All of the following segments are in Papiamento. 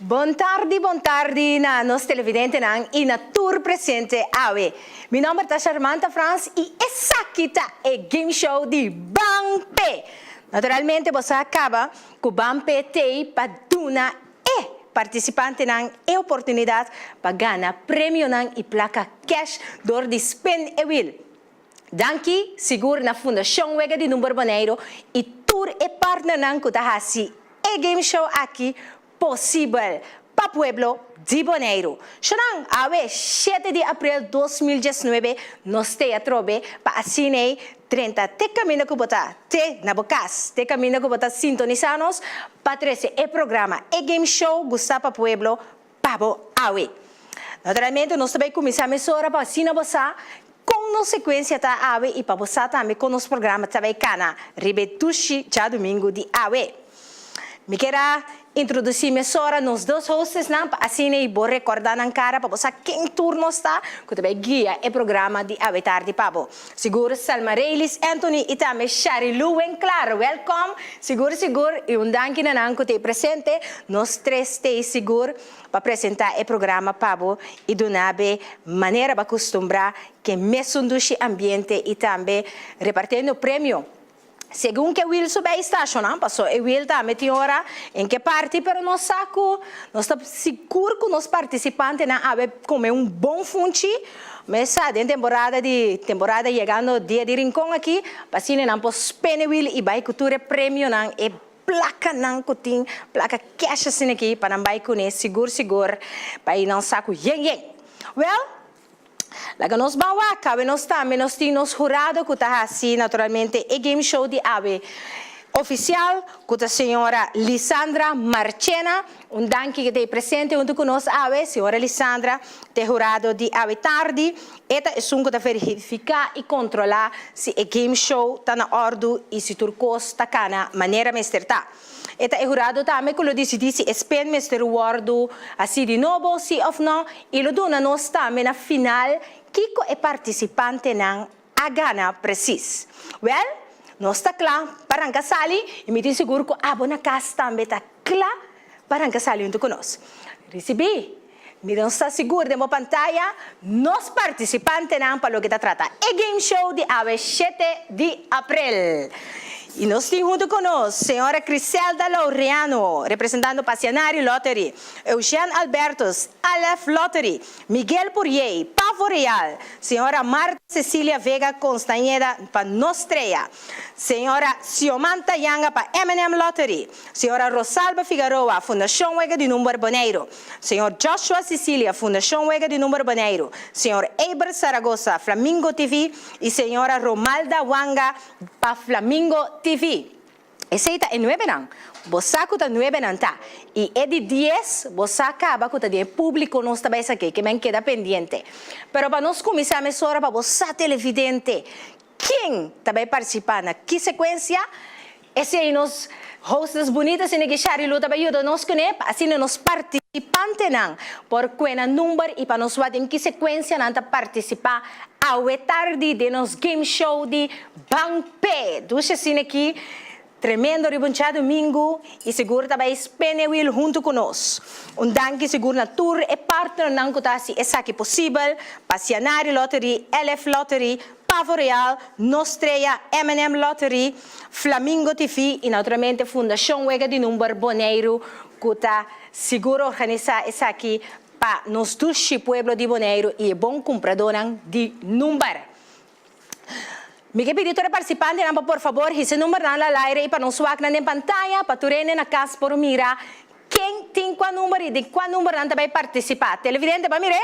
Bon tardi bon tardi na nos televidentenan y na tur presente awe. Mi nomber ta Sharmanta Frans y esaki ta e game show di Ban P. Naturalmente bo sa caba cu Ban P t'ey pa duna e participantenan e oportunidad pa gana premionan y placa cash door di spin e wheel. Danki sigur na Fundacion Wega di Number Boneiru y tur e partnernan cu ta haci e game show aki posibel pa pueblo di Boneiru. Shonan, awe shete di april dos mil diesnuebe nos te atrobe pa asina ei drenta te caminda cu bo ta te na bo cas, te caminda cu bo ta sintonisa nos pa trece e programa, e game show gusta pa pueblo. pa bo awe. Naturalmente nos ta bay cuminsa mesora pa asina bo sa con nos secuencia ta awe y pa bo sa tambe con nos programa ta bay cana riba e tushi djadomingo di awe. Mi kier a introduci mesora nos dos hostesnan pa asina y bo recorda nan cara pa bo sa ken tur nos ta cu ta bay guia e programa di awe tardi pa bo. Sigur Selma Reylis Anthony y tambe Shari Lou Wen Clara welkom sigur sigur y un danki na nan cu ta presente nos tres ta sigur pa presenta e programa pa bo y duna be manera ba custumbra ke mesun dushi ambiente y tambe repartendo premio Segun ke wiel su bay stashonan paso e wiel ta ami tin ora en ke parti pero nos sa ku nos ta sigur ku nos partisipantenan a bay kome un bon funchi mes sa den temporada di temporada yegando dia di rincon aki pa asina nan por spene wiel i bay ku tur e premionan e plakanan ku tin plaka cash asina aki pa nan bay kune sigur sigur bay nan sa ku yen yen wel. Laga nos ban wak, awe nos tambe nos tin nos hurado ku ta hasi naturalmente e game show di awe ofisial ku ta señora Lisandra Marchena. Un danki ke ta e presente huntu ku nos awe señora Lisandra te hurado di awe tardi. E ta esun ku ta verifiká i kontrolá si e game show ta na òrdu i si tur kos ta kana manera mester ta. E ta e hurado tambe ku lo disidí si e spin mester wòrdu hasi di nobo, si òf nò, i lo duna nos tambe na final kiko e partisipantenan a gana presis. Wèl, nos ta kla pa ranka sali i mi tin sigur ku abo na kas tambe ta kla pa ranka sali huntu ku nos. Risibí! Mi don sta sigur den bo pantaya nos participantenan pa loke ta trata e game show di awe shete di april. Y nos tin hunto con nos señora Criselda Laureano, representando pa Cianari Lottery, Eugène Albertus, Aleph Lottery, Miguel Puriey, Pavo Real, señora Marta Cecilia Vega Constañeda pa Nos Trea, señora Xiomanta Yanga pa M&M Lottery, señora Rosalba Figaroa, Fundacion Wega di Number Boneiru. Señor Joshua Sicilia, Fundacion Wega di Number Boneiru, Señor Eber Zaragoza, Flamingo TV, y Señora Romalda Wanga, pa Flamingo TV. Esey ta e nuebenan, bo sa cu ta nuebenan ta, y e di dies, bo sa caba cu ta di e publico nos ta bay esaki, que men keda pendiente. Pero pa nos cuminsa mesora pa bo sa televidente, ken ta bay participa na ki secuencia, Esei nos hostess bunita sende ki Sharilu ta bai yuda nos kuné pa asina nos partisipantenan por ku'e nan number i pa nos wak den ki sekuensia nan ta partisipá awe tardi den nos game show di Ban P'e Dusha Sine ki tremendo ribunchá domingu i sigur ta bai spenewiel huntu ku nos. Un danki sigur na tur e partnernan ku ta hasi esaki posibel, Pasianari Lottery, LF Lottery, Pavo Real, Nos Trea, M and M Lottery, Flamingo TV y naturalmente Fundacion Wega di Number Boneiru cu ta sigur organisa esaki pa nos dushi pueblo di Boneiru y e bon cumpradonan di number. Mi ke pidi tur e participantenan pa por favor hisa e numbernan al aire y pa nos wak nan den pantaya pa tur hende na cas por mira. Ken tin kua number y di kua number nan ta bay participa? Televidente ba mir'e?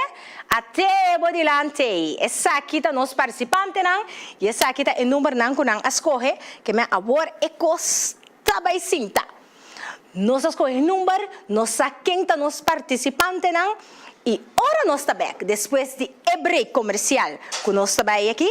A trae bo dilantey. Esaki ta nos participantenan y esaki ta e number nan cu nan a scoge ke men awor e cos ta bay sinta. Nos a scoge number, nos sa ken ta nos participantenan y ora nos ta bek despues di e break comercial cu nos ta bay aki,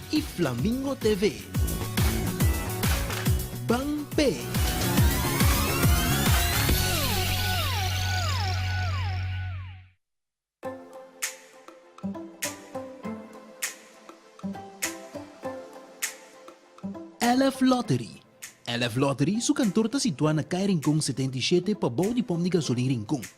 y Flamingo TV. Ban pe. Elf Lottery Elf Lottery su kantor ta situá na Kai Rincon setenta i shete pabou di pom di gasolin Rincon.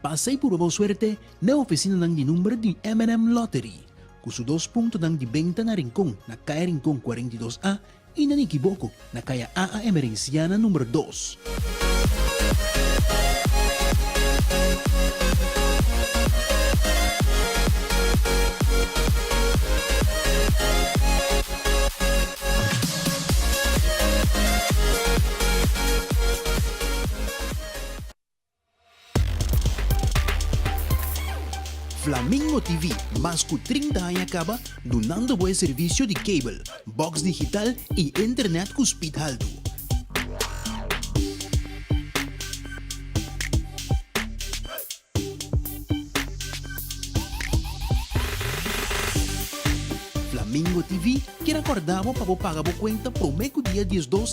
Pas'ei purba bo suerte n'e ofisinanan di number di MNM Lottery, cu su dos puntonan di benta na Rincon, na Caya Rincon cuarenta i dos A, y na Nikiboco, na Caya AA. Emerenciana number dos. Flamingo TV, mas cu trinta aña caba dunando bo e servicio di cable, box digital y internet cu speed haltu. Flamingo TV kier acorda bo pa bo paga bo cuenta prome cu dia diesdos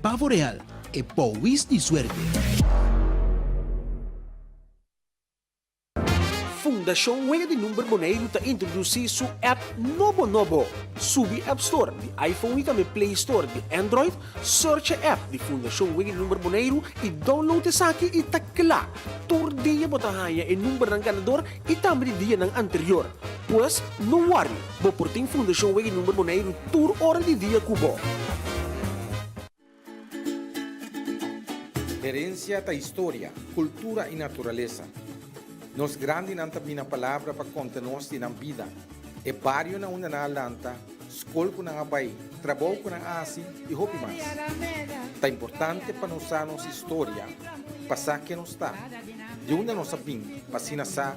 Pavo real, e powis di suerte. Fundashon Wega di Number Boneiru ta introdusí su app nobo nobo! Subi App Store di iPhone i tambe Play Store di Android, searcha app di Fundashon Wega di Number Boneiru i download esaki i ta kla! Tur dia bo ta haña e numbernan ganador i tambe di dianan anterior. Pues, no wòri! Bo por tin Fundashon Wegg Number Boneiru tur ora di dia ku bo. Herensia ta historia, kultura i naturalesa. Nos grandinan ta bina palabra pa konta nos di nan bida, e barionan unda nan a lanta, skol ku nan a bai, trabou ku nan a hasi i hopi mas. Ta importante pa nos sa nos historia pa sa ke nos ta, di unda nos a bin pa asina sa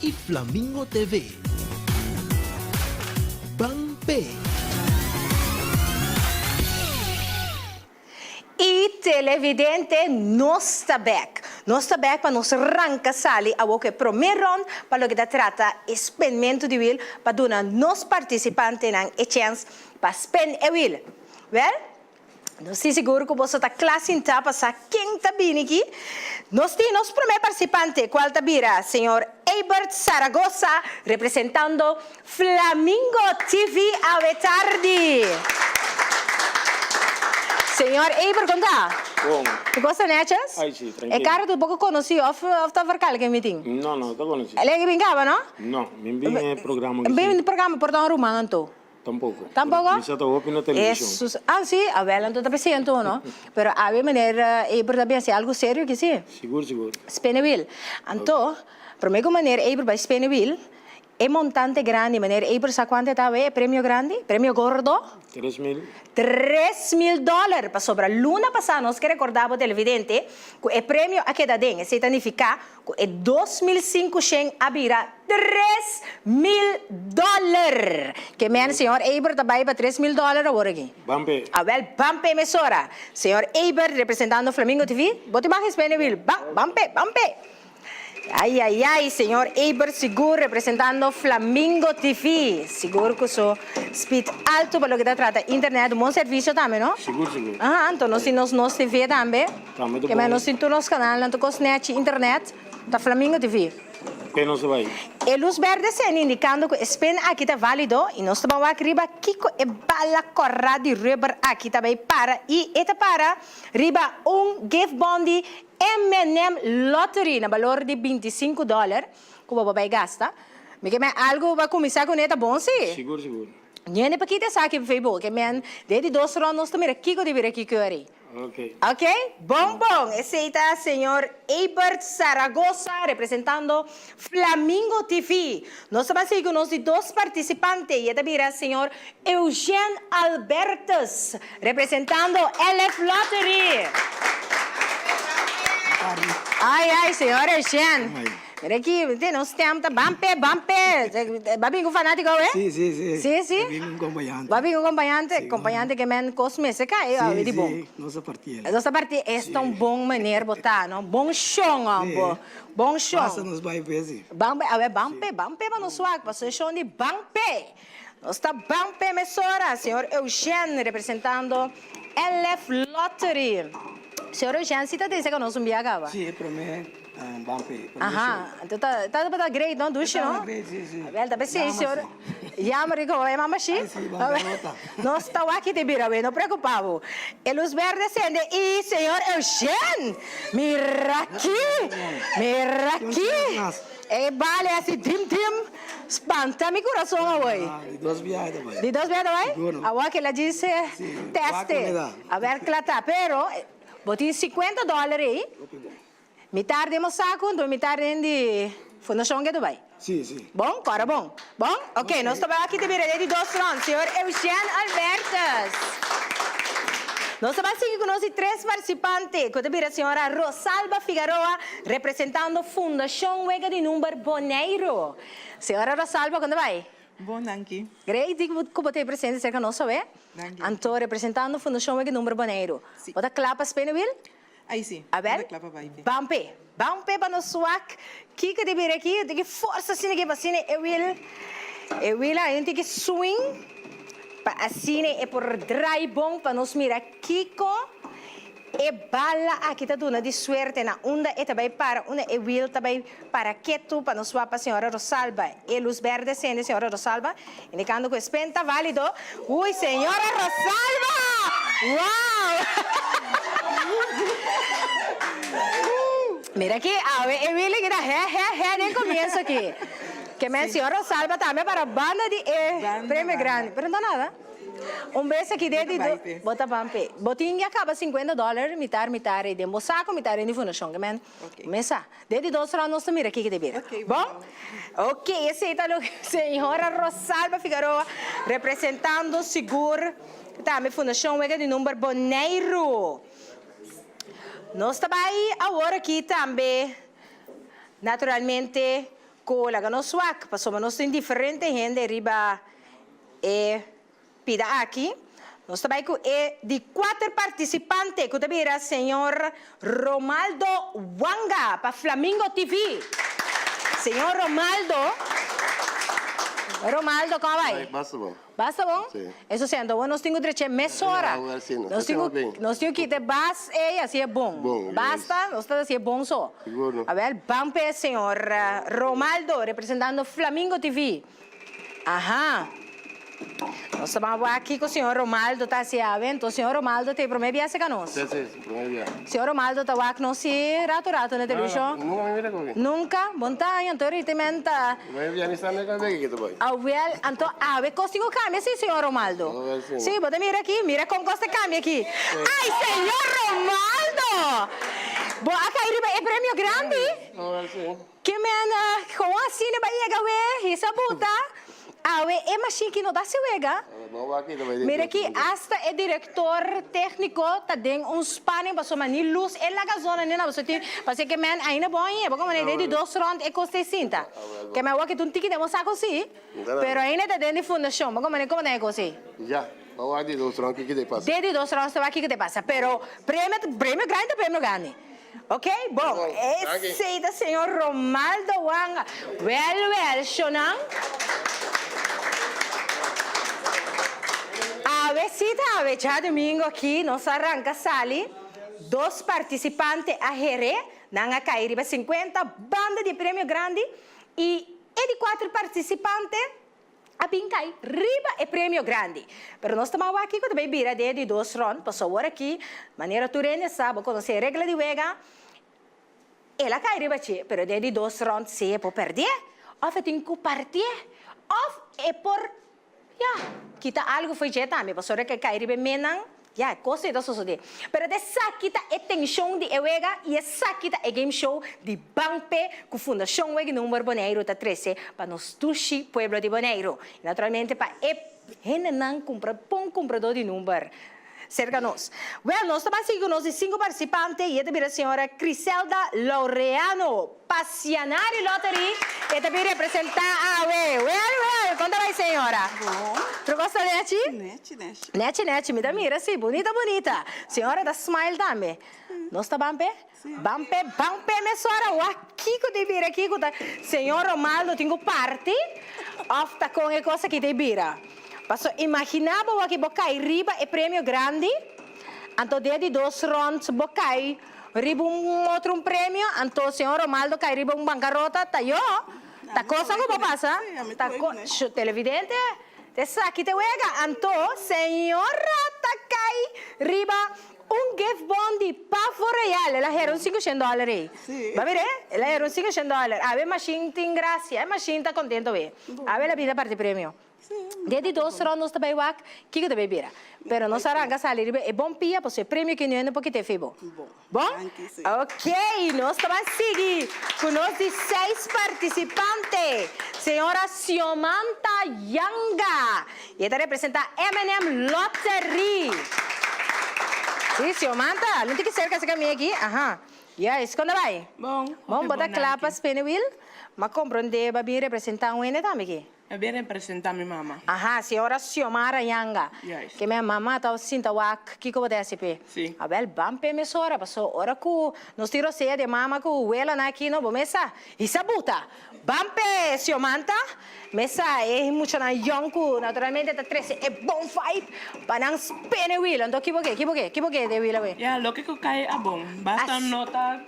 y Flamingo TV. Ban pe. Y televidente nos ta bek. Nos ta bek pa nos ranca sali awor cu e prome rond pa loke ta trata e spendmento di wil pa duna nos participantenan e chens pa spend e wil. Wel. Nos tin sigur cu boso ta cla sinta pa sa ken ta bini aki. Nos tin nos prome participante, cual ta bira Señor Eybert Zaragoza, representando Flamingo TV awe tardi. Señor Eybert, con ta? Bon. Mi cosa neches? Ay si, trankilo. E cara ta un poco conoci of ta verkal ken mi tin? No, no ta conoci. Elegi bin caba, no? No, mi bin e programa aki si. Bin programa por ta un ruman anto? Tampoco. Tampoco? Misa ta hopi na television. Jesus. Ah si, awel anto ta presente uno. Pero awe manera Eber ta biaha si algo serio aki si. Sigur, sigur. Spinnewheel. Anto, prome ku manera Eber bai spinnewheel, e montante grandi, manera Eber sa kuantu e ta awe, e premio grandi, premio gordo? Tres mil. Tres mil dollar! Pasobra luna pasa nos ke rekorda bo televidente ku e premio a keda den. Esei ta nifiká. Cu e dos mil sinku shen a bira tres mil dollar. Ke mene Señor Eybert a bay pa tres mil dollar awor aki? Ban pe. A wel ban pe emisora. Señor Eybert representando Flamingo TV. Bo tin baha esbene wil. Ban, ban pe, ban pe. Ay ay ay Señor Eybert sigur representando Flamingo TV. Sigur cu su speed alto pa loke ta trata internet un bon servicio tambe no? Sigur sigur. Ahan, anto nos tin nos nos TV tambe. Ke men nos tin tur nos kanal nan ta kos nèchi internet ta Flamingo TV. Ke nos ta bai? E lus bèrdè sendi indikando ku e spin aki ta válido i nos ta ban wak riba kiko e bala kòrá di rùber aki ta bai para i e ta para riba un gifbòn di MNM Lottery na balor di binti sinku dòler ku bo bo bai gasta. Mi ke men algu pa kuminsá kuné ta bon si? Sigur sigur. Niente pa kita esaki, p'efei bo ke men den di dos rond nos ta mira kiko ta bira kiko riba. Ok, bon bon! Esey ta Señor Eybert Zaragoza representando Flamingo TV. Nos ta basey cu nos di dos participante y e ta bira Señor Eugène Albertus representando LF Lottery. Ay ay, Señor Eugène. Mira aki, mintende? Nos stem ta ban p'e, ban p'e! B'a bini ku fanatiko awe? Si, si, si. Si, si? B'a bini ku kompañante. B'a bini ku kompañante? Si. Kompañante ke men kos mester kai e awe di bon. Si, si. Nos ta parti el. Nos ta parti. Si. Esta un bon maner bo ta, no? Bon shon ò bo. Si. Bon shon. Basta nos bai p'e si. Ban p'e, awe ban p'e, ban p'e pa nos wak, pasobra e shon di ban p'e. Nos ta ban p'e mesora, señor Eugène representando LF Lottery. Señor Eugène, si ta ta esaki nos un bia kaba? Sí, e promé ban p'e promé show. Aha, anto ta tabata great no, Dushi no? Tabata great, sí, sí. Abel, ta pe sí, señor. Yama sí. Yama rico hoy, mama sí? Ay sí, ban p'e nota. Nos ta wak te bira awey, no preocupa bo. E luz berde sende y señor Eugène! Mira aki! Mira aki! Ey bale así dim dim. Spanta mi kurason awor. Di dos biaha ta bai. Di dos biaha ta bai? Siguno. Awor kel a djis teste. Si, wak mi da. A ber kla ta. Pero bo tin sikuenta doler ei. Hopi bon. Mi tarde e mosa ku anto mi tarde en di fundashon ke ta bai. Si, si. Bon? Ku ora bon? Bon? Ok, nos ta bai wak kita bira den di dos rond. Señor Eugène Albertus. Nos ta bai sigui ku nos di tres partisipante ku ta bira señora Rosalba Figaroa Representando Fundacion Wega di Number Boneiru, Señora Rosalba con ta bay? Bon danki. Grei di cu bo ta presente cerca nos awe. Danki. Anto representando Fundacion Wega di Number Boneiru. Si. Bo ta cla pa spinner wheel? Ay si. A ber. Bo ta cla pa bay pe. Bam pe. Bam pe pa nos wak. Kiko ta bira aki? Tin ki forsa asina aki pa asina e wheel. E wheel ain tin ki swing pa asina e por draai bon pa nos mira kiko. E bala aki ta duna di suerte na unda e ta bai para unda e wiel ta bai para ketu pa nos wapa señora Rosalba e luz berde sende señora Rosalba indicando cu e spin ta valido ui señora Rosalba wow mira aki awe e wielen kita he he he den comienzo aki ke men señora Rosalba tambe para banda di e premio grandi pero no ta nada. Un bes aki dei di dos, bo ta bai p'e. Bo tin ya kaba sinkuenta dòler, mitar mitar ei den bo sako, mitar den di Fundashon Gemein. Bo mesa. Dei di dos rònt nos ta mira kiko ta bira. Bon? Ok, esei ta loke Señora Rosalba Figaroa, representando Sigur, tambe Fundashon Wega di Number Boneiru. Nos ta bai awor aki tambe, naturalmente. Cu laga nos suak, pasobra nos tin diferente hende riba e pida aki. Nos ta bai cu e di cuater participante cu ta bira Señor Romaldo Wanga pa Flamingo TV. Señor Romaldo, Romaldo, con a bai? Bai, basta bo. Basta bon? Eso sienta awo nos tin ku dreché mesora. Nos tin ku nos tin ku kita e bas ei a si e bon. Basta, nos ta si e bon so. Awèl ban p'e señor Romaldo representando Flamingo TV. Aha. Nos ta ban bo aki ku señor Romaldo ta hasi awe, enton señor Romaldo ta e promé biahe ka nos. Señor Romaldo ta wak nos si rato rato na televishon? Nunka? Bon ta aña anto riti men ta. Awel anto awe kos tin ku kambia si señor Romaldo? Si bo ta mira aki mira kon kos ta kambia aki. Ay señor Romaldo! Bo a kai riba e premio grandi? Ke men kon asina bai yega we hisa buta awe e mashin ki no ta hasi wega? Mira aki asta e direktor tekniko ta den un spaning paso mani lus e laga zona nena paso tin paso ke men ainda bon i abo komo den di dos rond e kos ta e sinta ke men wak e tun tiki den bo sako si pero ainda ta den di fundashon bo komo komo ta e kos ei den di dos rond kiko ta e pasa pero premio premio grandi ta premio grandi. Ok bon esey ta señor Romaldo Wanga wel wel shonan awe si ta awe djadomingo aki nos a ranka sali dos participante a here nan a kai riba cincuenta banda di premio grandi y e di cuatro participante a bin kai riba e premio grandi. Pero nos ta ban wak kiko ta bay bira den di dos rond, paso awor aki, manera tur hende sa, bo conoce e regla di wega, el a kai riba dje, pero den di dos rond sea e por perdié, of e tin cu partié, of e por, ya, kita algo fo'i dje tambe, pasobra cu e kai riba e menan. Ya, e cos ei ta sosode. Pero ta esaki ta e tension di e wega y esaki ta e game show di Banpe cu Fundacion Wega y Number Boneiru ta trece pa nos dushi pueblo di Boneiru. Y naturalmente pa e hendenan cu bon comprador di number cerca nos. Wel, nos ta bay sigui cu nos e cinco participante y e ta bira señora Criselda Laureano. Pa siana di lottery e ta bin representa awe well well kon ta bai señora tro kos ta nechi nechi nechi nechi nechi mi ta mira si bonita bonita señora ta smile tambe nos ta ban pe ban pe ban pe mesora wak kiko ta bira kiko ta señor Romaldo tin ku party of ta kon e kos aki ta bira paso imagina bo aki bo kai riba e premio grandi anto den di dos ronds bo kai. Riba un otro un premio, anto señor Romaldo cay riba un bancarota, ta yo, ta cosa cu bo pasa, ta co, shu televidente, esaki ta e wega, anto señor Rata cay riba un gift bon di Pavo Real, el a hera un cinco shen dollar ey, bo a mira ey, el a hera un cinco shen dollar, awe e machine tin gracia, e machine ta contento awe, awe el a bini a parti premio. Den di dos rond nos ta bay wak kiko ta bay bira. Pero nos a ranka sali riba e bon pia paso e premio ki nuhende por kite fi bo. Bon? Ok, nos ta bay sigui cu nos di seis participante. Señora Xiomanta Yanga. Y e ta representa MNM Lottery. Si, Xiomanta, algun tiki cerca asina mi aki. Aha. Juist, con ta bay? Bon, bo ta cla pa spinning wheel? Ma compro un deba bin representa un hende tambe aki. E bin representa mi mama. Aha, si ora Xiomara yanga, ke mi a mama tawba sinta wak, kiko bo ta hasi p'e? Si. A bel ban p'e mesora, paso ora ku nos tin rosea di e mama ku wela nan aki no, bo mesa hisa buta. Ban p'e Xiomanta, mesa e muchanan yòn ku naturalmente ta trese e bon vibe pa nan spene wila. Anto ki bo ke, ki bo ke, ki bo ke di e wila wei? Ya, loke ku kai a bon. Basta no ta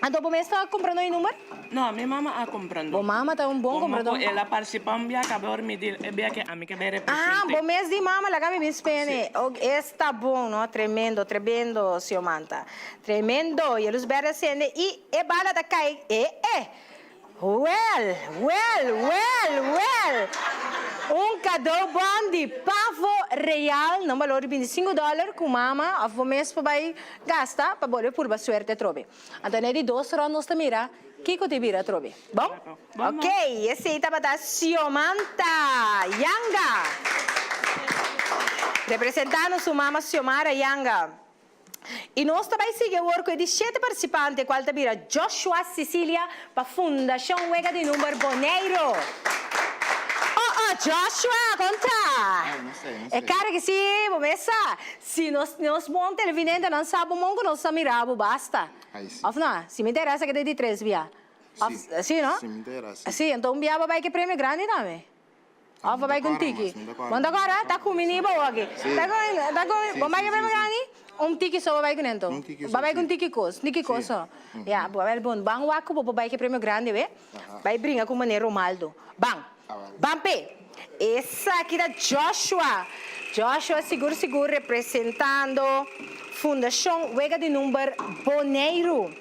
Anto bo mester a compra noi number? No, mi mama a compra number. Bo mama ta un bon comprador. Como cu el a participa un biaha caba ora mi di el, e biaha que ami que bay represente. Ah, bo mes di mama laga mi bin spende. Si. Oke, esta bon no, tremendo, trebendo, señor Manta. Tremendo, Yelus Berde a sende y e bala ta cay, eh, eh! Wèl! Wèl! Wèl! Wèl! Un kadou bon di pavo real na un balor di bintisinku dòler ku mama òf bo mes por bai gasta pa bolbe purba suerte atrobe. Anto an'e di dos rònt nos ta mira kiko ta e bira atrobe. Bon? Ok, esei tabata Xiomanta Yanga. Representando su mama Xiomara Yanga. Y nos ta bay sigui awor cu e di shete participante cual ta bira Joshua Sicilia pa Fundacion Wega di Number Boneiru. Oh oh Joshua con ta? Ay no sé no sé. E cara ki si bo mesa si nos nos bon televidente nan sa bo mon cu nos ta mira bo basta. Ay si. Of no? Si mi ta era esa keda e di tres bia. Si. Si no? Si mi ta era si. Si enton bia bo bay cu e premio grandi tambe. Of bai cu un tiki. Bo no ta cora? Ta cu mi ni bo aki. Ta cu mi, ta cu mi. Bo maya prebega ni? Un tiki so bo bai cu nan to. Bo bai cu un tiki cos. Niki cos so. Ya, bo bai bon. Ban wak cu bo por bai cu e premio grandi, oe. Bai bringa cu Mane Romaldo. Ban. Ban pe. Esaki ta Joshua. Joshua sigur sigur representando Fundacion Wega di Number Boneiru.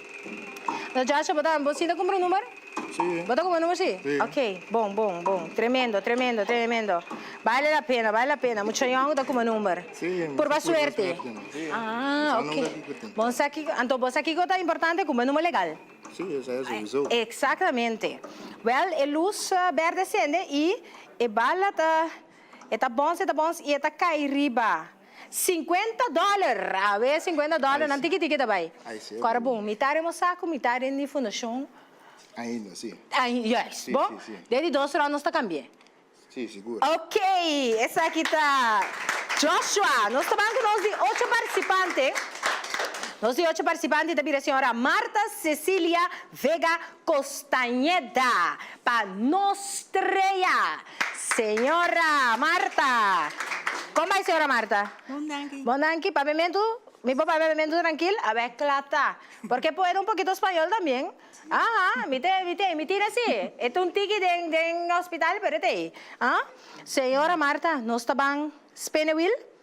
Joshua, bo ta, bo sinta cumpra un number? Bo ta komo numero si? Si. Ok, bon, bon, bon. Tremendo, tremendo, tremendo. Bale la pena, bale la pena. Mucha yòn ku ta komo number. Si. Purba suerte. Purba suerte, si. Ah, ok. Bo sa kiko tin. Bo sa kiko. Anto bo sa kiko ta importante ku bo e numero legal. Si, esei souiso. Eksaktamente. Wèl, e lus bèrdè sende i e bala ta, e ta bons, e ta bons i e ta kai riba. Cincuenta dollar! Awe cincuenta dollar nan tiki tiki ta bay. Kora bon, mitad den bo sak cu mitad den di fundacion. Ainda si. Ainda, juist. Si, si, si. Bon, den di dos ronda nos ta cambi'e. Si, sigur. Ok, esaki ta Joshua. Nos ta ban cu nos di ocho participante. Nos di ocho participante ta bira señora Marta Cecilia Vega Costañeda pa nos strea. Señora Marta. Kon bai señora Marta? Bon danki. Bon danki. Papiamentu, mi por papia papiamentu trankil? A bai kla ta. Por ke pueda un pokito spañol también? Aha, mi te, mi te, mi tina si. E ta un tiki den, den hospital pero e ta ei. Señora Marta, nos ta ban spinnewiel?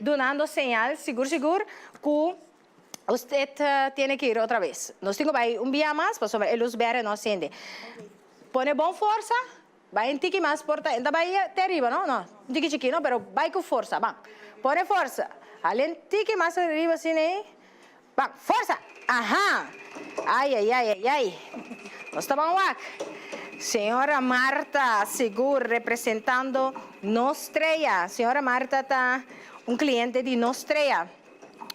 Dunando señal sigur sigur cu usted tiene que ir otra vez. Nos tin cu bay un bia mas pasobra e luz berde no cende. Pone bon forsa, bay un tiki mas por ta, e no ta bay te ariba no, no, un tiki chiki no, pero bay cu forsa, ban. Pone forsa, halen tiki mas ariba asina ey. Bak, forsa! Aha! Ai, ai, ai, ai, ai! Nos ta ban wak! Señora Marta, sigur, representando nos trea. Señora Marta ta un cliente di nos trea.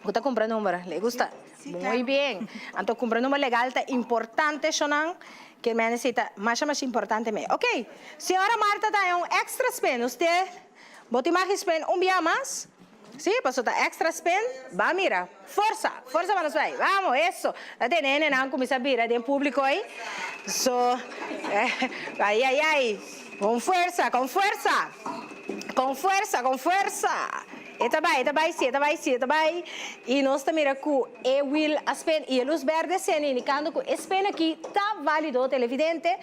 Bo ta cumpra number? Le gusta? Muy bien! Anto cumpra number legal ta importante cho nan, cu e mene si ta masha masha importante me. Ok! Señora Marta ta e un extra spin. Usted bo tin maki spin un bia mas. Sí, paso ta extra spin, ba mira. Forsa, forsa manos bay, vamos, eso. Ta te nene nan cuminsa bira den publico ay, so, ay, ay, ay, con fuerza, con fuerza, con fuerza, con fuerza. E ta bay, e ta bay, sí, e ta bay, sí, e ta bay, y nos ta mira cu e wheel a spin, y e luz berde cendi indicando cu e spin aki ta valido, televidente,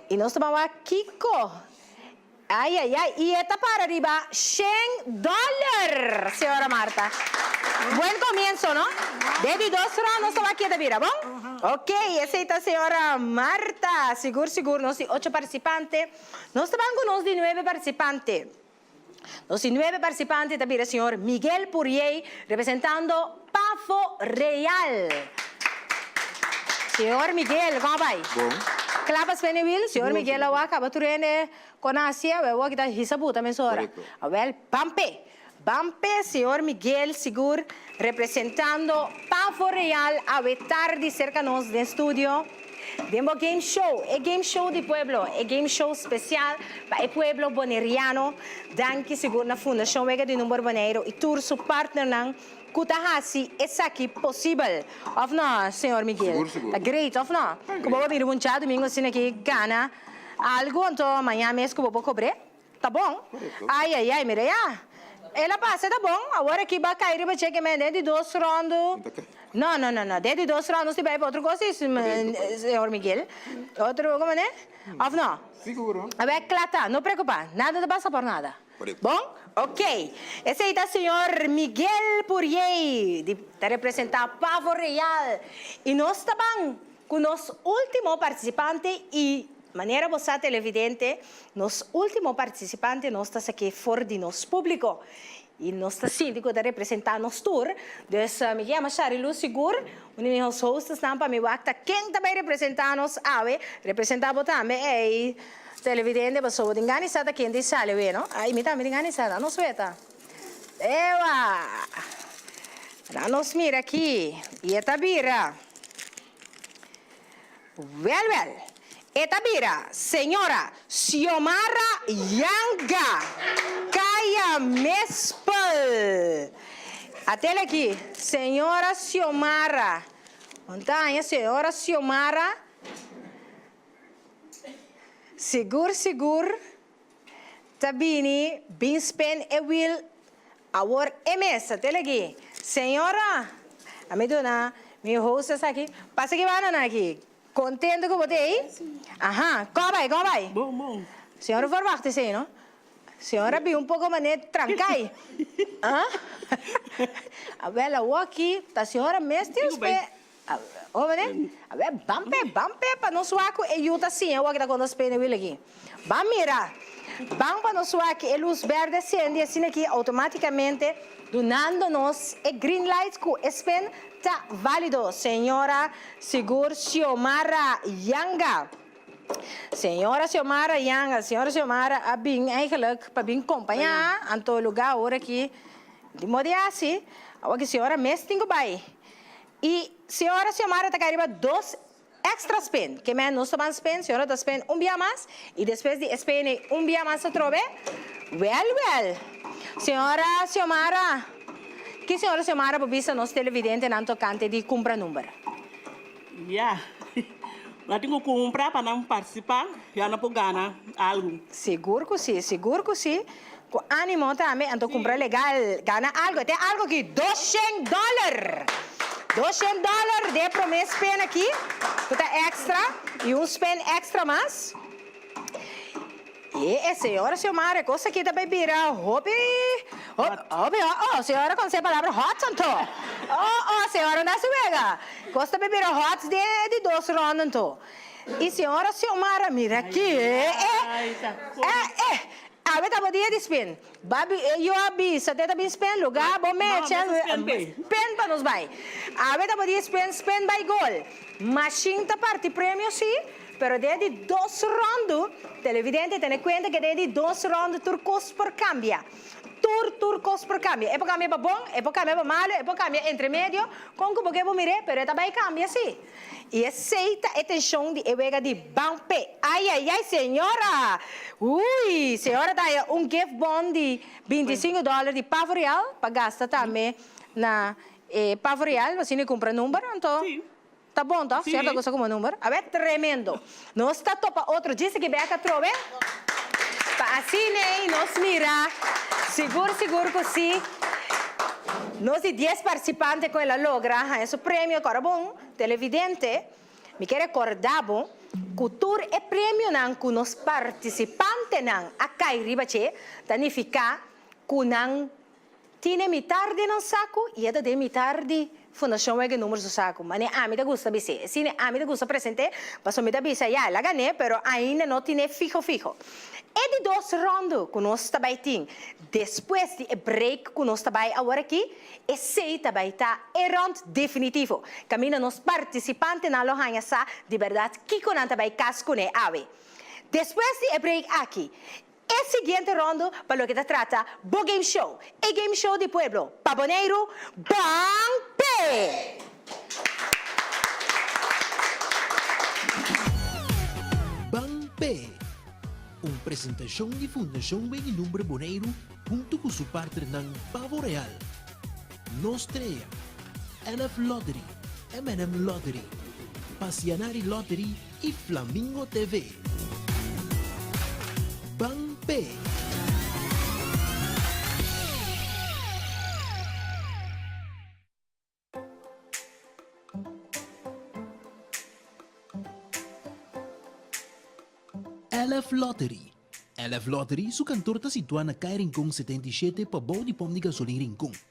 y nos ta ban wak kico. Ai ai ai y e ta para riba shen dollar Señora Marta. Buen comienzo no? De di dos rond nos a wak keda bira bon? Ok esey ta Señora Marta sigur sigur nos tin ocho participante nos ta ban cu nos di nueve participante nos di nueve participante ta bira Señor Miguel Puriey representando Pafo real. Señor Miguel kong a bai. Bon. Klap a spene wil señor Miguel a wak a ba turende kon a hacia we wak kita hisa buta mesun ora a wel ban pe ban pe señor Miguel sigur representando pafo real awe tardi serka nos den studio den bo game show e game show di pueblo e game show special pa e pueblo boneriano danki sigur na fundacion wega di number Boneiru y tur su partner nan. Cu ta haci esaki posibel, of no, Señor Miguel? Sigur, sigur. Ta great, of no? Ta great. Cu bobo a bini un dja domingo asina aki gana algo, anto maña mes cu bobo cobre, ta bon. Correcto. Ay, ay, ay, mira ya. El a pasa, ta bon. Awor aki ba cay riba cheque men den di dos rondo. No ta cay. No, no, no, no. Den di dos rondo nos tin bay pa otro cosa, si, P'e otro país. Señor Miguel. Otro, como ne? Of no? Siguro. Awe, cla ta. No preocupa. Nada ta pasa por nada. Bon? Ok. Esei ta Señor Miguel Puriei di ta representa Pavo Real y nos ta ban cu nos ultimo participante y manera bo sa televidente nos ultimo participante nos ta sake for di nos publico y nos ta sinti cu ta representa nos tur dus mi ta yama Shari Lu sigur un di mi hos hostesnan pa mi wak ta ken ta bay representa nos awe representa bo tambe ey. Televidente pasobra tin gana di sa ta ken tin sali awe no ay mi tambe tin gana di sa da nos weta ewa la nos mira aki y e ta bira wel wel e ta bira señora Xiomara Yanga Caya Mespel a tele aki señora Xiomara konta aña señora Xiomara. Sigur sigur ta bini bin spin e wheel awor e mes tel aki señora a mi duna mi host esaki pasa ki banda nan aki contento cu bo ta ey aha coge bay coge bay señora por wacht esa ey no señora a bin un poco mane trancay ah awel awor aki ta señora mes tin spin. Omo mane? Ave, ban p'e, ban p'e pa nos wak ku e yu ta siña awor ku ta konta Spain e wila aki. Ban mira. Ban pa nos wak ku e lus bèrdè a sendi asina aki outomátikamente, dunando nos e green light ku e Spain ta válido. Señora Sigur Xiomara Yanga. Señora Xiomara Yanga, Señora Xiomara a bin eigenlijk pa bin kompañá Antologá awor aki. Dimodi hasi? Awor ki señora mes tin ku bai. Y Señora Xiomara ta kai riba dos extra spin, ke meh nos ta ban spin, Señora ta spin un bia mas y despues di e spin ey un bia mas atrobe, Well well, Señora Xiomara, ki Señora Xiomara por bisa nos televidentenan tocante di cumpra number? Ya, nan tin cu cumpra pa nan participa y aun nan por gana algo. Segur cu si, segur cu si. Cu animo tambe, anto cumpra legal, gana algo, e t'e algo aki, doshent dollar! Doshent dollar d'e prome spin aki, cu ta extra, y un spin extra mas. Y e señora Xiomara, e cos aki ta bay bira hopi, hopi hot, oh, señora conoce e palabra hot anto? Oh, oh, señora na su wega, cos ta bay bira hot den e di dos ronda anto. Y señora Xiomara, mira aki, eh, eh, eh, eh. Awe ta bo dia di spin. Babi e yo a bisa te ta bin spin luga bo me e chel spin pa nos bai. Awe ta bo dia spin spin bai gol. Machine ta parti premio si pero den e di dos rondo televidente tene cuenta ke den e di dos rondo tur cos por cambia. Tur tur cos por cambia e por cambia pa bon e por cambia pa malo e por cambia entre medio con cu bo ke bo mire pero e ta bai cambia si. Y esey ta e tension di e wega di Bampe! Ay ay ay señora! Uy! Señora ta haya un gift bon di binti y singu dollar di Pavo Real pa gasta tambe na e Pavo Real, asina e cumpra number, anto ta bon toch? Señor ta gusta cumpra number? Awe, tremendo! Nos ta topa otro djis aki bek atrobe? Pa asina ei nos mira, sigur sigur cu si. Nos di dies participante cu el a logra haña su premio, cora bon, televidente, mi ke recorda bo cu tur e premionan cu nos participantenan a cay riba dje ta nifica cu nan. Tine mitar den nan saku y e ta den mitar di Fundacion Wegge Numer su saku. Mane ami ta gusta bisti e cine ami ta gusta presente paso mi ta bisa ya el a gane pero ainda no tine fiho fiho. E di dos rondo cu nos ta bay tin despues di e break cu nos ta bay aworaki esey ta bay ta e rond definitivo. Caminda nos participantenan lo hanja sa di berdad kico nan ta bay cas cune awe. Despues di e break aki. E siguiente rondo pa loke ta trata bo game show, e game show di pueblo pa Boneiru, Ban P! Ban P! Un presentashon di Fundacion Wegilumbre Boneiru huntu ku su partnernan Pavo Real, Nos Trea, NF Lottery, MNM Lottery, Pasianari Lottery y Flamingo TV. Ban pe. Elf Lottery Elf Lottery su kantor ta situá na Kai Rincon 77 pabou di pom di gasolin Rincon.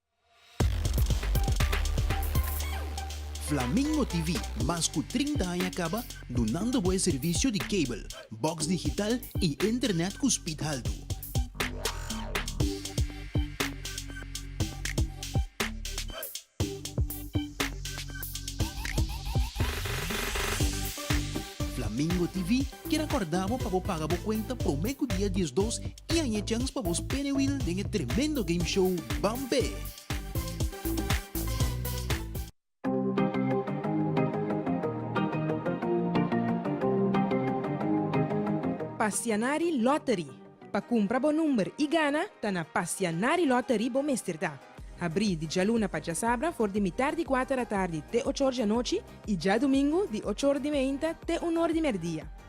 Flamingo TV, mas ku trinta aña kaba dunando bo e servisio di kabel, bòks digital i internet ku spid haltu. Flamingo TV kier akòrda bo pa bo paga bo kuenta promé ku dia diesdos I haña e chans pa bos penewil den e tremendo game show Ban Pe! Pasianari Lottery. Pa kumpra bo number i gana, ta na Pasianari Lottery bo mester ta. Habrí di djaluna pa djasabra for di mitar di kuater atardi te ochor di anochi i djadumingu di ochor di meinta te unor di merdia.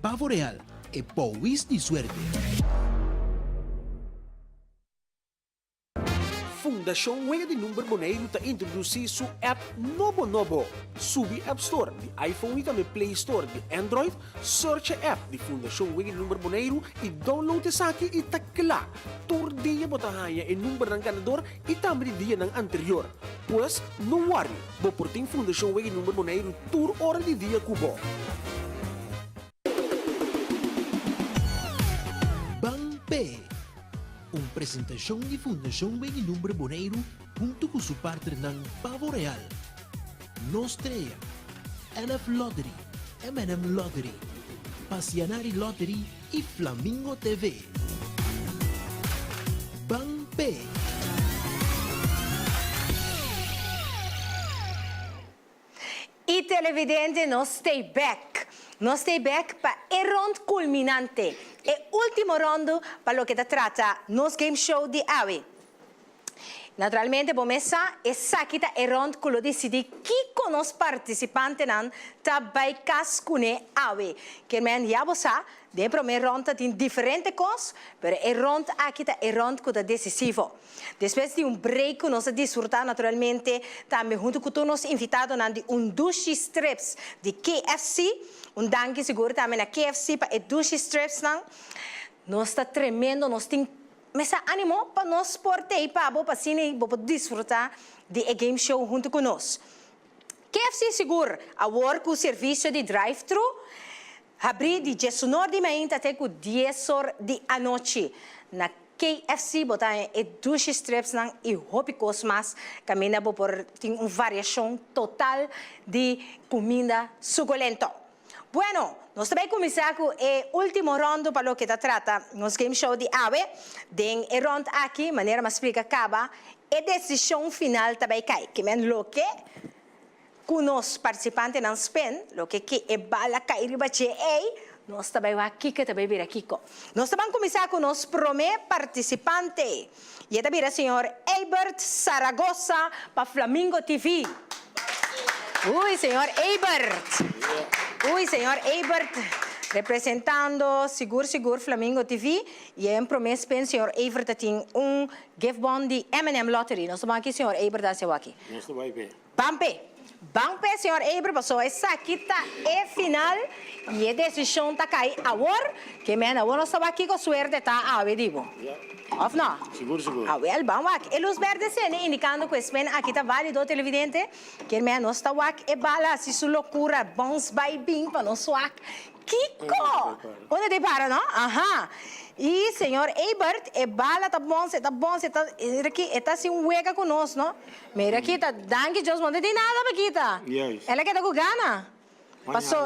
Pavo real, e powis di suerte. Fundashon Wega di Number Boneiru ta introdusí su app nobo nobo! Subi App Store di iPhone i tambe Play Store di Android, search e app di Fundashon Wega di Number Boneiru i download esaki i ta kla! Tur dia bo ta haña e numbernan ganador i tambe di dianan anterior. Pues, no wòrri, bo por tin Fundashon Wega i Number Boneiru tur ora di dia ku bo. Ban p'e! Un presentashon di Fundashon Wega i Number Boneiru huntu ku su partnernan pavoreal, Nos Trea, NF Lottery, MNM Lottery, Pasianari Lottery y Flamingo TV. Ban pe. Y televidente nos stay back. Nos stay back pa e rond culminante, e ultimo rondo pa loke ta trata nos game show di awe. Naturalmente bo mes sa, esaki ta e rond ku lo disidi kiko nos partisipantenan ta bai kas kuné awe. Kermèn ya bo sa, den promé rond ta tin diferente kos, pero e rond aki ta e rond ku ta desisivo. Despues di un break ku nos a disfrutá naturalmente tambe huntu ku tur nos invitadonan di un dushi strips di KFC, un danki sigur tambe na KFC pa e dushi stripsnan, nos ta tremendo, nos tin Mester animo pa nos por t'ei pa bo pa asina bo por disfruta di e game show hunto cu nos. KFC sigur, awor cu servicio di drive-thru habri di diesunor di mainta te cu diesor di anochi. Na KFC bo ta haña e dushi stripsnan y hopi cos mas, caminda bo por tin un variacion total di cuminda suculento. Bueno, nos ta bai kuminsá ku e último rondo pa loke ta trata nos game show di awe. Den e rond aki, manera m'a splika kaba, e desishon final ta bai kai. Ke men loke ku nos partisipantenan spend, loke ke e bala kai riba dje ei, nos ta bai wak kiko ta bai bira kiko. Nos ta ban kuminsá ku nos promé partisipante. Y e ta bira señor Eybert Zaragoza pa Flamingo TV. Uy señor Eybert. Uy señor Eybert representando sigur sigur Flamingo TV. Y e prome spin señor Eybert ta tin un gift bon di M&M Lottery. Nos ta bon aki señor Eybert a haci awor aki. Nos ta bay bay. Pampe, ban p'e señor Eber paso esaki ta e final y e decision ta cay awor, ke mehen awor nos ta wak kico suerte ta awe di bo. Of no? Sigur, sigur. A wel, ban wak e luz berde cende indicando cu e spin aki ta valido, televidente. Kier mehen nos ta wak e bala haci su locura, bounce bay bin pa nos wak kico unda ta e para, no? Aha! Y señor Ebert, e bala ta bounce, e ta bounce, e ta, e ta haci un wega cu nos, no? Mira kita, danki Dios bo no ta tin nada pa kita. El a keda ku gana. Paso,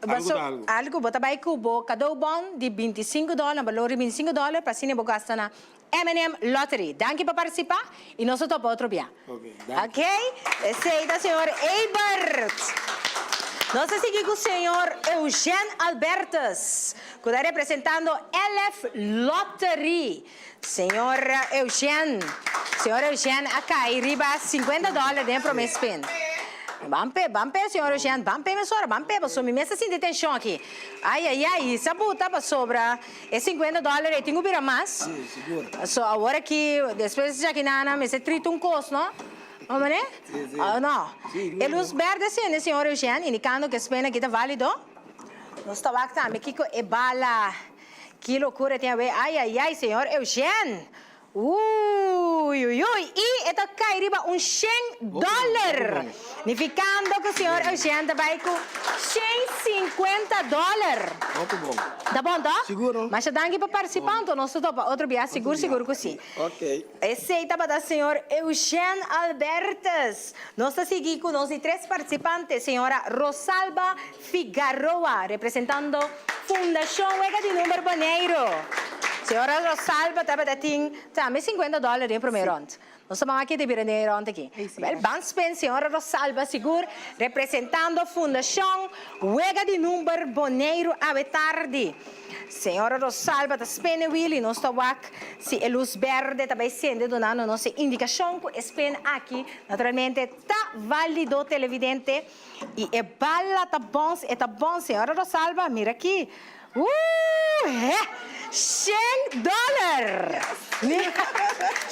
paso algu bo ta bai ku bo kadou bon di binti sinku dòler, na balor di binti sinku dòler, pa asina bo gasta na MNM Lottery. Danki pa partisipa i nos ta topa otro bia. Ok, esei ta señor Eybert. Nos ta sigui ku señor Eugène Albertus ku ta representando LF Lottery. Señor Eugen, Señor Eugen a cay riba cincuenta dollar den prome spin. Ban pe, ban pe Señor Eugen, ban pe mesora, ban pe paso mi mester sinti tension aki. Ay ay ay y sa buta pasobra e cincuenta dollar ey tin cu bira mas. So awor aki despues di chaki nana mester trita un cos no? No mane? No. E luz berde sende Señor Eugen indicando cu e spin aki ta valido. Nos ta wak tambe kico e bala Ki locura e tin awe ay ay ay señor Eugène uy uy uy y e ta cay riba un shen dollar nificando cu señor Eugène ta bay cu shen cincuenta dollar ta bon to? Masha danki pa participanto nos ta topa otro bia sigur sigur cu si esey tabata señor Eugène Albertus nos ta sigui cu nos di tres participantes señora Rosalba. Figaroa representando Fundacion Wega di Number Boneiru. Señora Rosalba tabata tin tambe cincuenta dollar den prome rond. Nos ta mama kende bira den e rond aki. Papel ban spend señora Rosalba sigur representando Fundacion Wega di Number Boneiru awe tardi. Señora Rosalba ta spende wili nos ta wak si e luz berde ta bay sende dunando nos e indicacion cu e spend aki naturalmente ta valido televidente. Y e bala ta bon si e ta bon señora Rosalba mira aki ooh heh shen dollar mira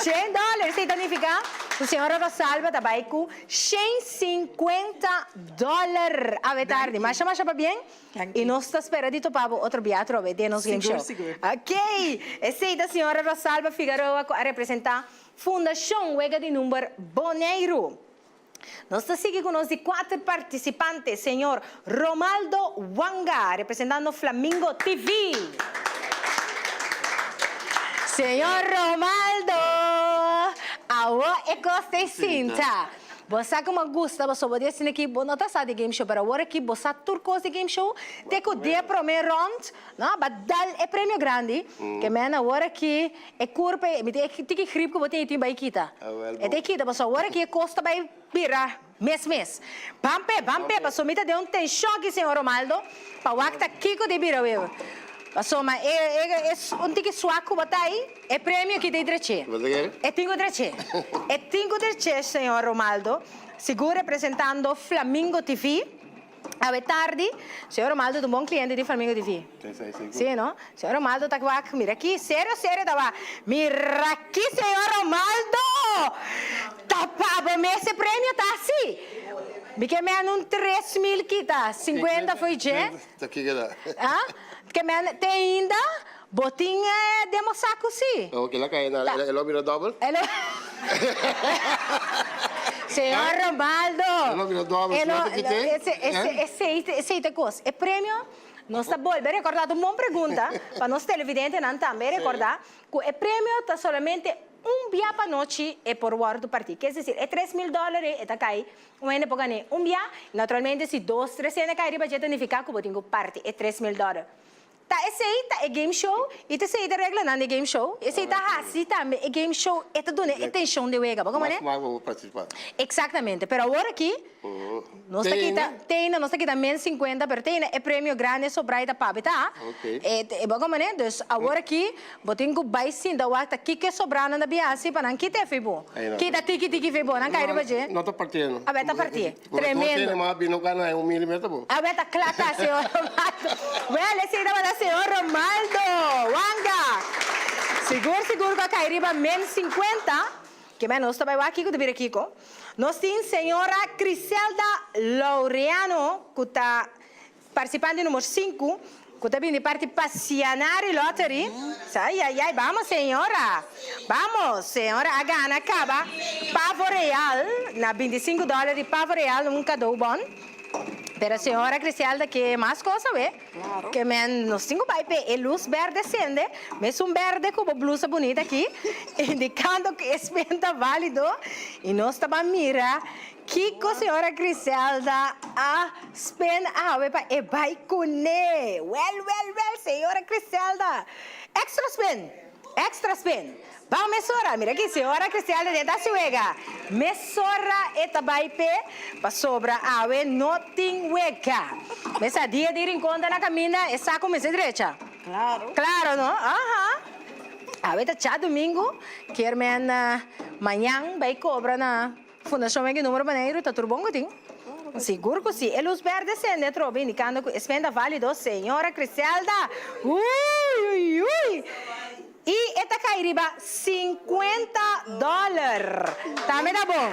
shen dollar esei ta nifica cu señora Rosalba ta bay cu shen cincuenta dollar awe tardi masha masha pa bien y nos ta spera di topa bo otro bia atrobe den nos Limshow ok esei ta señora Rosalba Figaroa cu a representa Fundacion Wega di Number Boneiru. Nos ta sigui cu nos di cuater participante, Señor Romaldo Wanga, representando Flamingo TV. Señor Romaldo, awo e cos ta e sinta. Bo sa como a gusta pasobra bo di asina aki, bo no ta sa di game show, pero awor aki bo sa tur cos di game show, te cu di e prome rond, no, a ba dal e premio grandi, ke men awor aki. E kurpa ei, mi tin tiki grip ku bo tin, e tin bai kita. E ta e kita, pasobra awor aki e kos ta bai bira mes mes. Ban p'e, ban p'e, pasobra mi ta den un tenshon aki, señor Romaldo, pa wak ta kiko ta e bira wei. Pasobra e, e un tiki swak ku bo ta ei, e premio aki ta e drech'é. E tin ku drech'é. E tin ku drech'é, señor Romaldo, sigur representando Flamingo TV. Awe tardi, Señor Romaldo ta un bon cliente di Flamingo TV. Si no? Señor Romaldo ta wak, mira aki, serio serio ta wak, mira aki Señor Romaldo! Ta pa bo mes e premio ta si! Mi ke mende un tres mil kita, cincuenta foi dje. Cincuenta, ta kiko ta? Ah? Ke mende te ainda? Bo tin e demostrá ku sí. Oh, kila kaya na ala, e lo bira dòbel? E lo. Señor Romaldo. E lo bira dòbel, si no ta kité? Esei, esei ta e kos. E premio, nos ta bolbe rekordá, ta un bon pregunta pa nos televidentenan tambe rekordá ku e premio ta solamente un bia pa anochi e por wòrdu partí. Ke es desir, e tres mil dòlare e ta kai, un hende por gane un bia, naturalmente si dos, tres hende kai riba dje ta nifiká ku bo tin ku parti e tres mil dòlare. Ta esei ta e game show y ta esei ta e reglanan di e game show. Esei ta hasi tambe e game show e ta dun'e e tenshon di wega. Bo komo ne? Exactamente. Pero awor aki nos ta kita, teina, nos ta kita men sinkuenta pero teina e premio grandi so brai ta pabita. E bo komo ne? Dus awor aki bo tin ku bai sinta wakta kiko e sobranan ta bin hasi pa nan kite fi bo. Kita tiki tiki fi bo. Nan kai riba dje. A bes ta parti'e. Tremendo. Awe ta kla ta señor Romaldo. Well e sei tabata señor Romaldo Wanga. Sigur sigur cu a cay riba men cincuenta. Ke mei nos ta bay wak Kiko te bira Kiko. Nos tin señora Criselda Laureano cu ta. Participante numero sinku cu ta bini parti pasia na Ari Lottery, ay ay ay bamos señora bamos señora a gana caba pavo real na binti sinku dollar di pavo real un cado bon pero señora Griselda ke mas cosa we ke men nos tin cu bay pe e luz berde sende mesun berde cu bo blusa bunita aki indicando cu e spin ta valido y nos ta ban mira. Kiko señora Griselda a spend awe pa e bai cune? Well well well señora Griselda extra spend extra spend bao mesora mira aki señora Griselda den ta suega mesora e ta bai pe pasobra awe no tin wega mesa dia di rincon ta na caminda e sa comensa drecha claro no aha awe ta cha domingo kier men mañan bai cobra na. Fundashon Wendy Numero Baneiru ta tur bon ku tin? Sigur ku si! E lus bèrdè sende atrobe indikando ku e spen ta válido, Señora Criselda, uiuiui! I e ta kai riba sinkuenta dòler! Ta meda bon!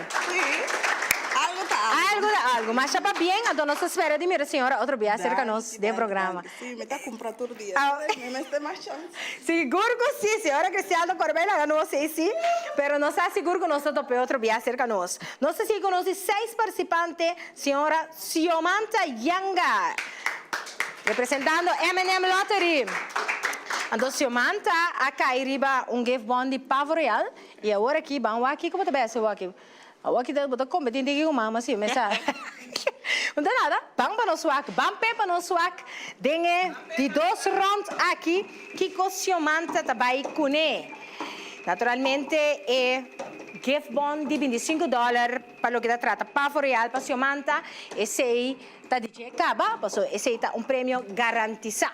Algu ta algu. Algu ta algu. Masha pabien, anto nos ta spera di mira Señora otro bia serka nos den programa. Sí, mi ta cumpra tur dia. Au. Pero mi mester mas chance. Sigur cu sí, si ora Cristian ta cora bay laga nos say sí, pero nos ta sigur cu nos ta top'e otro biaha cerca nos. Nos ta sigui conoci seis participante, señora Xiomanta Yanga, representando M&M Lottery. Anto Xiomanta a cay riba un gift bon di Pavo Real y awor aki, ban wak aquí, como ta bay haci wak aquí? Awa kita bo ta competin tin ki cu mama si mesa. No ta nada, ban pa nos wak, ban p'e pa nos wak den e di dos rond aki kico Siomanta ta bay cune. Naturalmente e gift bon di binti sinku dollar pa loke ta trata pavo real pa Siomanta esey ta di dje caba, paso esey ta un premio garantisa.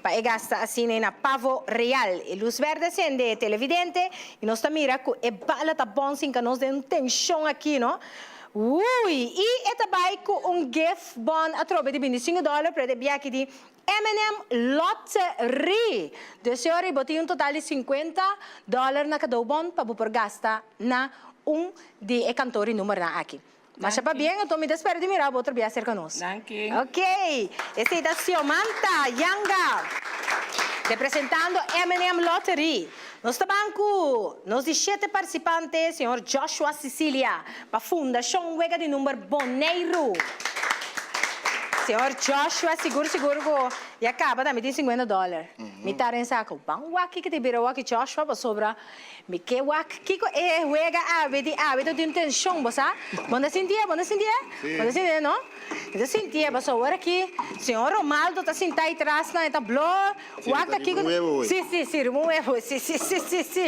Pa e gasta asina e na Pavo Real. E lus berde sende e televidente y nos ta mira cu e bala ta bon sinca nos den un tension aki no. Wooy! Y e ta bay cu un gift bon atrobe di binti singu dollar pret e bia aki di Eminem Lottery. Dus e ora y bo tin un total di cincuenta dollar na cadou bon pa bo por gasta na un di e cantoren numernan aki. Masha pabien, anto mi ta spera di mira bo otro bia cerca nos. Danki. Ok, esei ta Xiomanta Yanga representando MNM Lottery. Nos ta ban cu nos di shete participante, señor Joshua Sicilia, pa Fundacion Wega di Number Boneiru. Señor Joshua, sigur sigur cu ya caba tambe tin cincuenta dollar. Mi ta rensa cu, Ban wak ki ta bira wak Joshua pasobra Mi ke wak kiko e huega awe di awe to tin tenshon bo sa bo na sinti'e bo na sinti'e bo na sinti'e no mi ta sinti'e paso awor aki señor Romaldo ta sinta ay tras nan e ta bló wak ta kiko si si si riba un webo si si si si si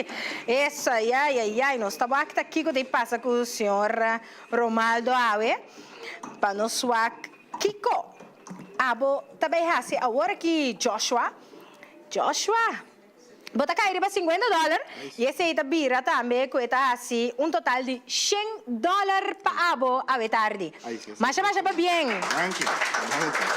eso ay ay ay ay nos ta wak ta kiko ta pasa ku señor Romaldo awe pa nos wak kiko abo ta bay hasi awor aki Joshua Joshua. Bo ta kai riba sinkuenta dòler i esei ta bira tambe ku e ta hasi un total di shen dòler pa abo awe tardi. Masha masha pabien!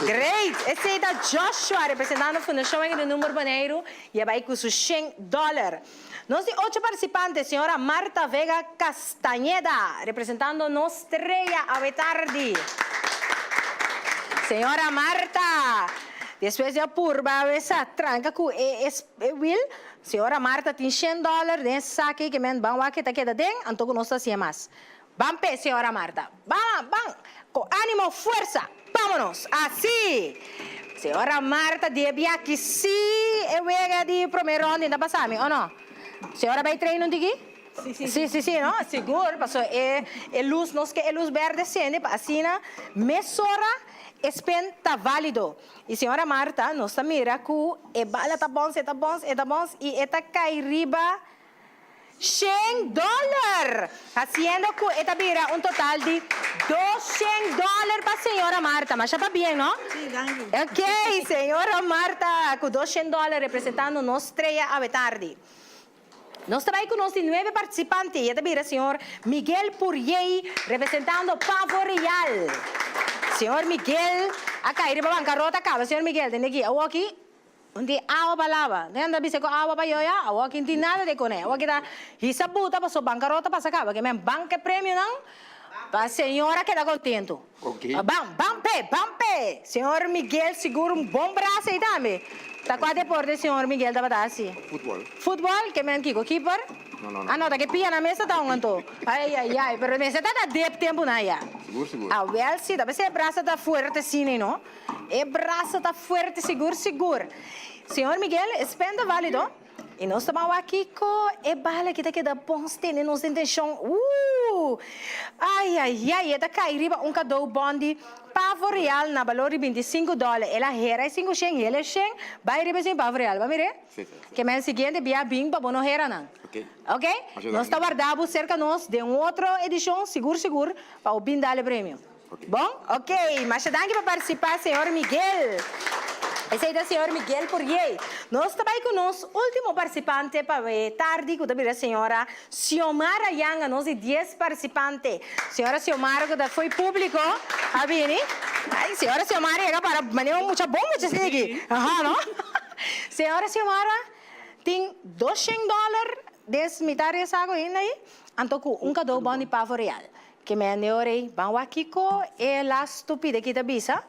Great! Esei ta Joshua representando Fundacion Henry Nunber Boneiru i e bai ku su shen dòler. Nos di ocho partisipante, señora Marta Vega Cas. Stañeda, representando nos trea awe tardi. Señora Marta, despues di a purba awe sa tranca cu e e wil, Señora Marta tin shen dollar den e sak ey ke men ban wak e ta keda den, anto cu nos ta haci'e mas. Ban pe, Señora Marta. Ban, ban, cu animo, fuerza, bamonos, así! Señora Marta debi a kisi e wega di prome ronda, e ta basa mi o no? Señora bay train un tiki? Si si si no sigur paso e e luz nos ke e luz berde sende pa asina mesora e spin ta valido y señora Marta nos ta mira cu e bala ta bounce eta bounce eta bounce y eta cay riba shen dollar haciendo cu eta bira un total di dos shen dollar pa señora Marta masha pa bien no ok señora Marta cu dos shen dollar representando nos treya awe tardi Nos ta bay cu nos di nuebe participante y e ta bira Señor Miguel Puriey representando Pavo Real. Señor Miguel a cay riba bancarota caba Señor Miguel den aki awoki no tin awa pa laba no yanda bisa cu awa pa yoya awoki no tin nada de cone awoki ta hisa buta paso bancarota pasa caba kimen banca e premionan pa Señor a keda contento. Ban, ban p'e, ban p'e! Señor Miguel sigur un bon brasa ei ta ami. Ta cua deporte señor Miguel tabata haci? Futbol. Futbol? Ke men kico? Keeper? No, no, no. Ah no, ta ke pia na mesa ta un anto. Ai, ai, ai, pero mester ta ta dep tempo nan ya. Sigur, sigur. Awel si, ta mester e brasa ta fuerte si nei no. E brasa ta fuerte sigur, sigur. Señor Miguel, e spenda valido? I nos ta ban wak kiko e bala ki ta keda bon stende nos den tenshon. Ooh! Ayayay! E ta kai riba un kadou bon di pavo real na balor di binti sinku dòler. El a hera e sinku shen, hele shen, bai riba esin pavo real. Bo a mir'é? Ke men siguiente bia bin pa bo no hera nan. Oke? Nos ta warda bo serka nos den un otro edishon sigur sigur pa bo bin dal e premio. Bon? Ok, masha danki pa participa Señor Miguel. Esey ta Señor Miguel Poirier. Nos ta bay cu nos ultimo participante pa e tardi cu ta bira Señora Xiomara Yanga, nos di dies participante. Señora Xiomara cu ta fo'i publico a bini. Ay, Señora Xiomara yega para manera un mucha bon mucha sigi. Aha, no? Señora Xiomara tin dos shen dollar den mitad di e saco hinda ahi, anto cu un cado bon di pavo real. Ke mea neo rei ban wak kiko e las stupide ki ta bisa?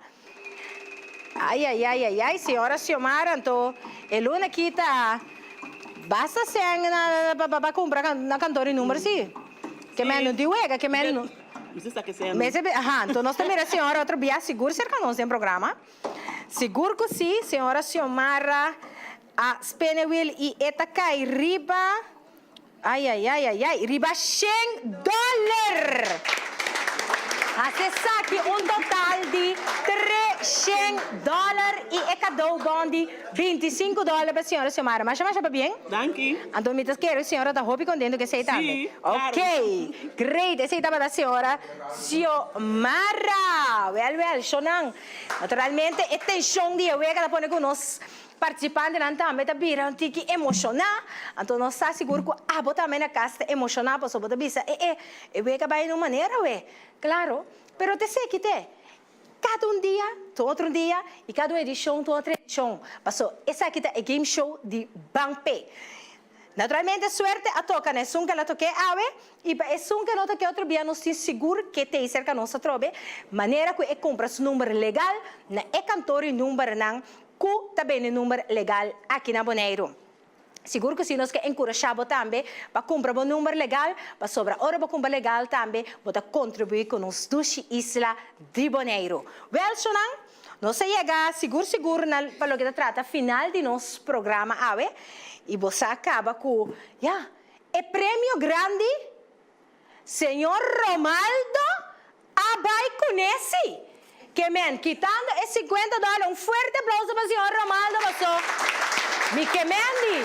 Ayayayayay señora Xiomara anto e luna ki ta basta sèn na pa kumpra na kantor di number si? Ke mea no di wega ke mea no Mester sa ke sèn. Mester be aha anto nos ta mira e señora otro bia sigur serka nos den programa sigur ku si señora Xiomara a spene wil i e ta kai riba. Ayayayayay, riba shen dòler! Hasi esaki un total di tre shen dòler i e kadou bon di binti i sinku dòler pa Señora Xiomara. Masha masha pabien? Danki. Anto mi ta kere ku Señora ta hopi kontentu ku esei tambe. Sí, klaru. Okey, great! Esei tabata Señora Xiomara. Wèl wèl, shownan. Naturalmente e tenshon di e wek a ta pone ku nos. Participantenan tambe ta bira un tiki emociona, anto nos ta sigur cu abo tambe na cas ta emociona pasobra bo ta bisa e e, e wega bay en un manera awe. Claro, pero ta eseki t'e, cada un dia ta un otro dia y cada un edicion ta un otro edicion, paso esaki ta e game show di Ban Pe. Naturalmente suerte a toca na esun cu ala toke awe y pa esun cu no toke otro bia nos tin sigur cu e taser ca nos ta trobe manera cu e cumpra su number legal na e kantoor y numbernan Cu ta bende number legal aki na Boneiru? Sigur cu si, nos ke enkurashá bo tambe pa cumpra bo number legal, pasobra ora bo cumpra legal tambe bo ta contribuí cu nos dushi isla di Boneiru. Wel, chonan, nos a yega sigur sigur na pa loke ta trata final di nos programa awe, i bo sa caba cu, ya, e premio grandi! Señor Romaldo a bai cune si que men kitando e cincuenta dollar un fuerte aplauso pa señor Romaldo paso mi que men di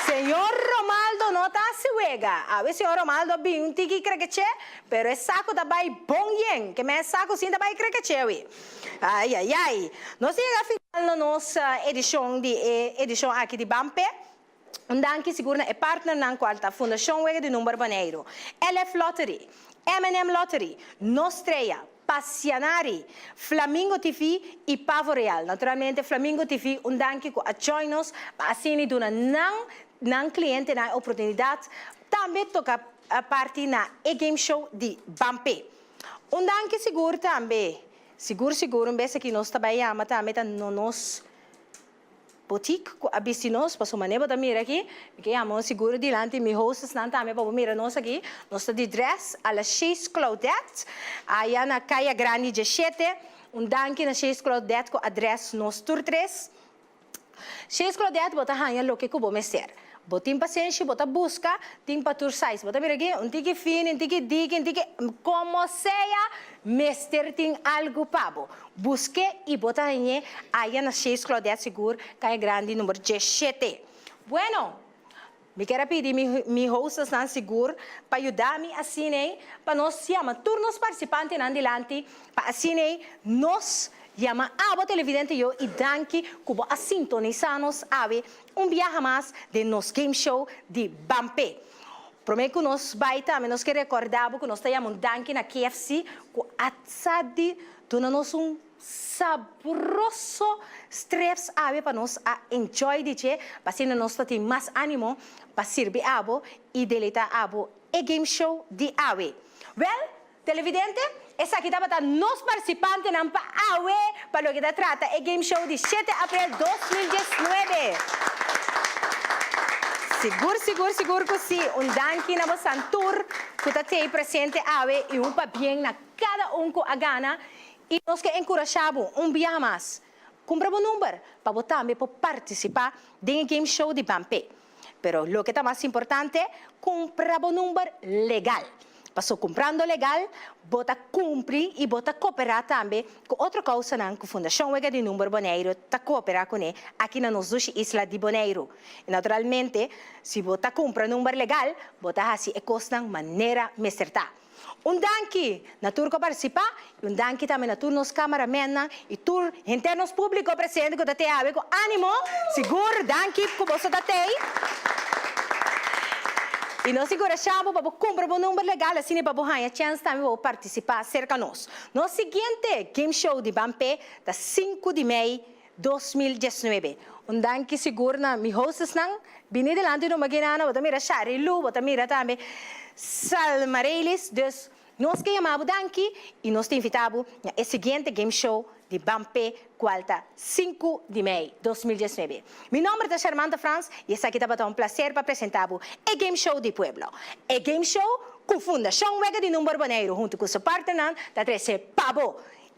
señor Romaldo no ta haci wega awe señor Romaldo a bin un tiki crekeche pero e saco ta bai bon yen que men saco sin ta bai crekeche wi ai ai ai nos ta yega final na nos edicion di e edicion aki di Bampe. Un danki sigur na e partnernan cual ta Fundacion Wega di Number Baneiro, LF Lottery, MNM Lottery, Nostrea, Passianari, Flamingo TV y Pavo Real. Naturalmente Flamingo TV un danki cu a join nos pa asina duna nan nan clientenan e oportunidad tambe toca parti na e game show di Bampé. Un danki sigur tambe, sigur sigur un bes aki nos ta bay jama tambe ta no nos. Boutique cu a bisti nos pa su manera bo ta mira aki mi ke yama un sigur dilanti mi hostess nan tambe pa bo mira nos aki nos ta di dress a la She's Claudette aya na Caya Grandi diashete un danki na She's Claudette cu a dress nos tur tres She's Claudette bo ta hanja loke cu bo mester Bo tin pasenshi, bo ta buska, tin pa tur size. Bo ta mira aki, un tiki fini, un tiki diki, un tiki. Como sea, mester tin algu pa bo. Buske i bo ta hañ'e aya na seis Claudette sigur, caña grandi number diecisiete. Bueno, mi ker a pidi mi, mi hostesnan sigur pa yuda mi asin'ei, pa nos yama tur nos participantenan dilanti, pa asin'ei nos yama abo televidente yo i danki cu bo a sintonisa nos awe. Un biaha mas den nos game show di Bampe. Prome cu nos bay tambe nos ke recorda bo cu nos ta yama un danki na KFC cu a sa di duna nos un sabroso streps awe pa nos a enjoy di dje asina nos ta tin mas animo pa sirbi abo y deleta abo e game show di awe. Wel! Televidente, Esaki tabata nos participantenan pa awe pa loke ta trata e game show di shete aprel dos mil dieznuebe. Sigur sigur sigur cu si! Un danki na bosan tur cu ta tey presente awe y un pabien na cada un cu a gana y nos ke encurasha bo un bia mas Cumpra bo number pa bo tambe por participa den e game show di Ban Pay. Pero loke ta mas importante, cumpra bo number legal. Paso cumprando legal, bo ta cumpri y bo ta coopera tambe cu otro causanan cu Fundacion Wega di Number Boneiru ta coopera cune aki na nos dushi isla di Boneiru. Y naturalmente, si bo ta cumpra number legal, bo ta haci e cosnan manera mester ta. Un danki na tur ku a partisipa i un danki tambe na tur nos kámaramennan i tur henter nos públiko presente ku ta tei awe ku ánimo. Sigur danki ku boso ta tei i nos enkurashá bo pa bo kumpra bo number legal asina pa bo haña chèns tambe pa bo partisipá serka nos. Nos siguiente game show di Ban P ta sinku di mei. dos mil diesnuebe. Un danki sigur na mi hostesnan. Bini dilanti no magi nada, bo ta mira Shari Lu, bo ta mira tambe Salma Reylis, dus nos ke yama bo danki i nos ta invita bo na e siguiente game show di Bampé kual ta sinku di mei dos mil diesnuebe. Mi nòmber ta Sharmanta Frans i esaki tabata un plaser pa presenta bo e game show di pueblo. E game show ku Fundashon Wega di Number Boneiru huntu ku su partnernan ta trese pa bo.